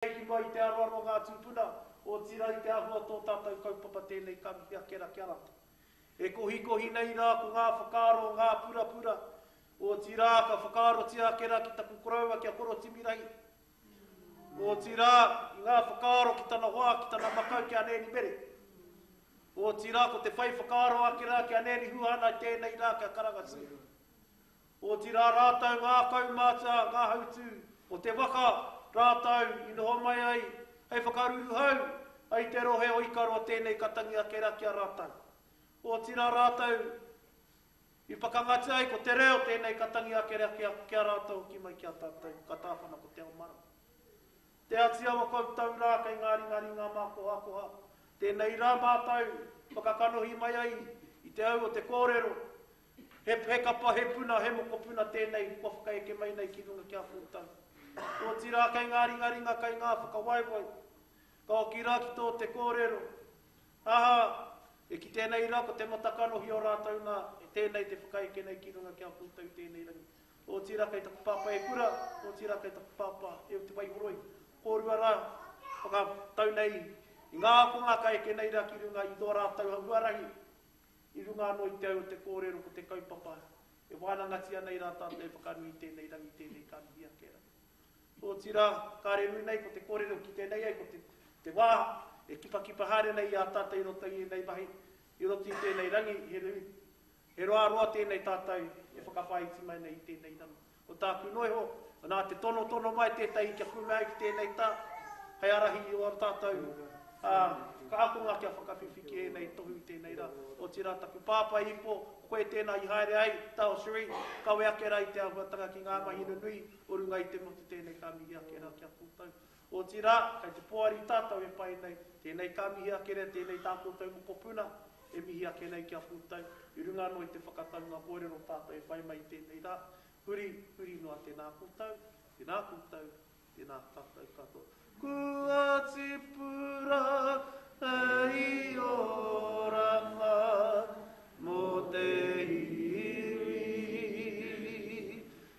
Hiki mai i te aroaro o ngā tūpuna, otirā i te āhua tō tātou kaupapa tēnei kanohi ake ra kia rata. E kohikohi nei rā ko ngā whakaaro o ngā purapura, otirā ka whakaarotia ake rā ki taku koroua ki a Koro Timirahi, otirā i ngā whakaaro ki tana hoa, ki tana makau ki a Nēni Mere. Otirā ko te whai whakaaro ake rā ki a Nēni Huhana i tēnei rā ki a Karanga Sue. Otirā rātou ngā kaumātua, ngā hautū o te waka rātou i noho mai ai hei whakaruruhau ai te rohe o Ikaroa tēnei ka tangi ake rā ki a rātou. Otirā rātou i whakangatia ai ko te reo tēnei ka tangi ake rā ki a rātou hoki mai ki a tātou ka tāwhana ko Te Ao Marae. Te Ati Awa koutou rā kei ngā ringa ringa mākohakoha, tēnei rā mātou whakakanohi mai ai i te au o te kōrero He kapa, he puna, he mokopuna tēnei kua whakaeke mai nei ki runga ki a koutou. Otirā kei ngā ringaringa, kei ngā whakawaewae, ka hoki rā ki tō te kōrero, aha, e kite nei rā ko te mata kanohi o rātou nā, e tēnei te whakaeke nei ki runga ki a koutou i tēnei rangi. Otirā kei taku pāpā e kura, otirā kei taku pāpā e o Te Waihoroi, kōrua rā, whakatau nei i ngā ākonga ka eke nei rā ki runga i tō rātou huarahi, I runga anō i te au o te kōrero ko te kaupapa e wānangatia nei rā tātou e whakanui i tēnei rangi, i tēnei kanohi ake rā. Otirā, kāre ū nei ko te kōrero kite nei ai ko te te wā e kipakipa haere nei i a tātou i roto i ēnei mahi, i roto i tēnei rangi, he roa roa tēnei tātou e whakawhāiti mai nei i tēnei rangi. Ko tāku noa iho, nā te tonotono mai tētahi kia kume ai ki tēnei tā, hei ārahi i ō tātou whakaakonga kia whakawhiwhi ki ēnei tohu i tēnei rā. Otirā, taku pāpā i ipo, koe tēnā i haere ai, Tao Sri, kawe ake rā i te āhuatanga ki ngā mahi nunui o runga i te motu tēnei ka mihi ake rā ki a koutou. Otirā, kei te poari tātou e pai nei, tēnei ka mihi ake nei, tēnei tā koutou mokopuna e mihi ake nei ki a koutou, i runga anō i te whakataunga kōrero tātou e whai mai i tēnei rā, huri, huri noa tēnā koutou, tēnā koutou, tēnā tātou katoa. Kua tipu rā hei oranga mō te iwi.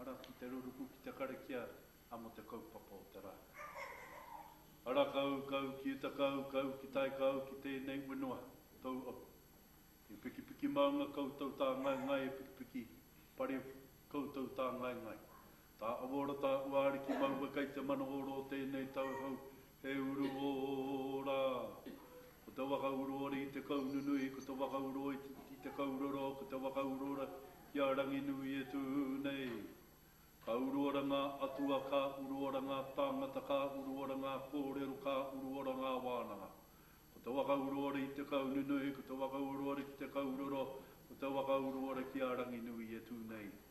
Ara ki te ruruku ki te karakia a mo te kaupapa o te ra. Ara kau, kau ki uta kau, kau ki tai kau ki tenei wenua, tou au. He pikipiki maunga koutou ta ngai ngai e pikipiki pare koutou ta ngai ngai. Ta aworata ua ariki maua kei te mana oro o tenei tau hau He uru ō rā. Ko te waka uruore i te kau nunui, ko te waka uruore i te kau roro, ko te waka uruore i a Ranginui e tū nei. Ka uruora ngā atua, ka uruora ngā tāngata, ka uruora ngā kōrero, ka uruora ngā wānanga. Ko te waka uruore i te kau nunui, ko te waka uruore ki te kau roro, ko te waka uruore ki a Ranginui e tū nei.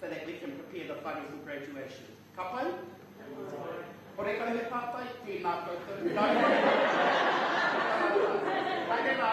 so that we can prepare the whare for graduation. Ka pai? Kore kau he pātai? Tēnā koutou. Haere rā.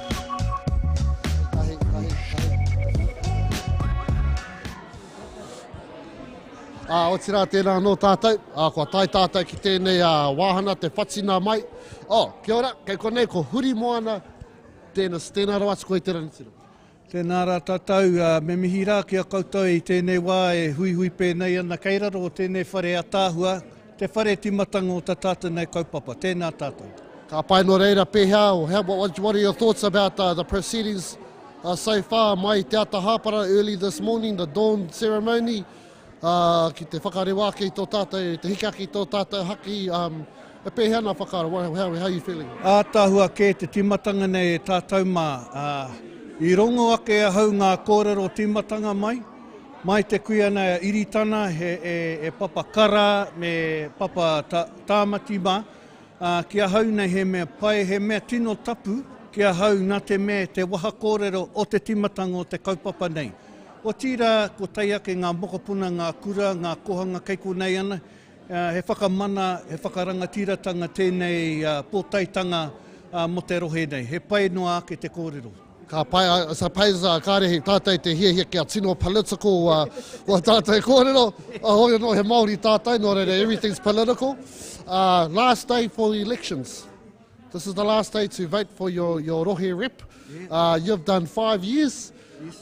Ā, otirā tēnā anō tātou, ā, kua tae tātou ki tēnei ā, wāhana te whatina mai. Ō, kia ora, kei konei ko Huri Moana Dennis, tēnā rawa atu koe i te ranitira. Tēnā rā tātou, ā, me mihi rā ki a koutou i tēnei wā e huihui pēnei ana kei raro o tēnei whare ātaahua. Te whare timatanga o ta tatou nei kaupapa. Tena tatou. Ka pai no reira pehea or how what what are your thoughts about uh, the proceedings uh, so far mai te ata hāpara early this morning the dawn ceremony uh, ki te whakarewa ake i tō tātou te hika ki tō tātou haki um, e pēhea nā whakaaro what, how, how are you feeling Ātahua kē te timatanga nei e tātou mā uh, i rongo ake ahau ngā kōrero timatanga mai Mai te kuia nei a Iritana e papa kara me papa tāmati mā. Ki ahau nei he mea pai, he mea tino tapu ki ahau nā te mea te waha kōrero o te timatanga o te kaupapa nei. Otirā ko tai ake ngā mokopuna, ngā kura, ngā kohanga kei konei ana, he whakamana, he whakarangatiratanga tēnei pōtaetanga mō te rohe nei. He pai noa ake te kōrero. Ka pai a Sapeza, kāre hei tātai te hiahia kia tino political a uh, tātai kōrero. A hoi anō he Māori tātai, nō reira everything's political. Uh, last day for elections. This is the last day to vote for your, your rohe rep. Uh, you've done five years.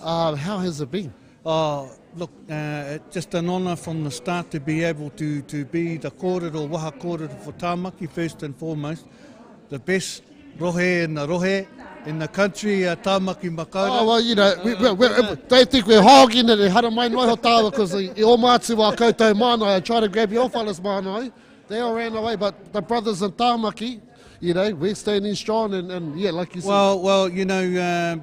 Uh, how has it been? Oh, look, uh, it's just an honour from the start to be able to, to be the kōrero, waha kōrero for Tāmaki first and foremost. The best rohe in the rohe, in the country, uh, Tāmaki Makaurau. Oh, well, you know, we, we, we, uh, they think we're hogging it, e hara mai noa ho tāwa, because i o mātu wā koutou mānai, I try to grab your fellas mānai, they all ran away, but the brothers in Tāmaki, you know, we're standing strong, and, and yeah, like you said. Well, well, you know, uh,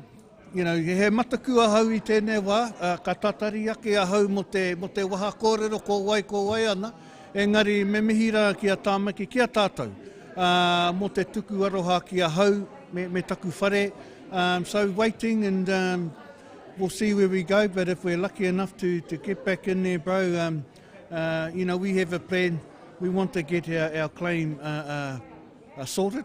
You know, he mataku ahau i tēnei wā, ā, ka tatari ake ahau mō te, mō te waha kōrero ko wai ko wai ana, engari me mihi rā ki a Tāmaki, ki a tātou, ā, mō te tuku aroha ki ahau me, me taku whare, um, so waiting and um, we'll see where we go, but if we're lucky enough to, to get back in there, bro, um, uh, you know, we have a plan, we want to get our, our claim uh, uh, uh, sorted.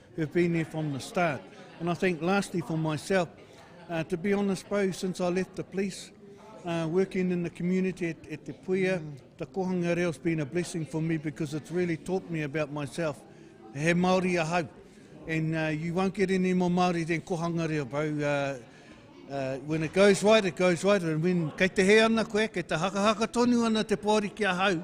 who've been there from the start. And I think lastly for myself, uh, to be honest, Bo, since I left the police, uh, working in the community at, at Te Puia, mm. the Kohanga Reo's been a blessing for me because it's really taught me about myself. He Māori a hau. And uh, you won't get any more Māori than Kohanga Reo, bro. Uh, uh, when it goes right, it goes right. And when kei te he ana koe, kei te hakahaka tonu ana te pōri ki a hau,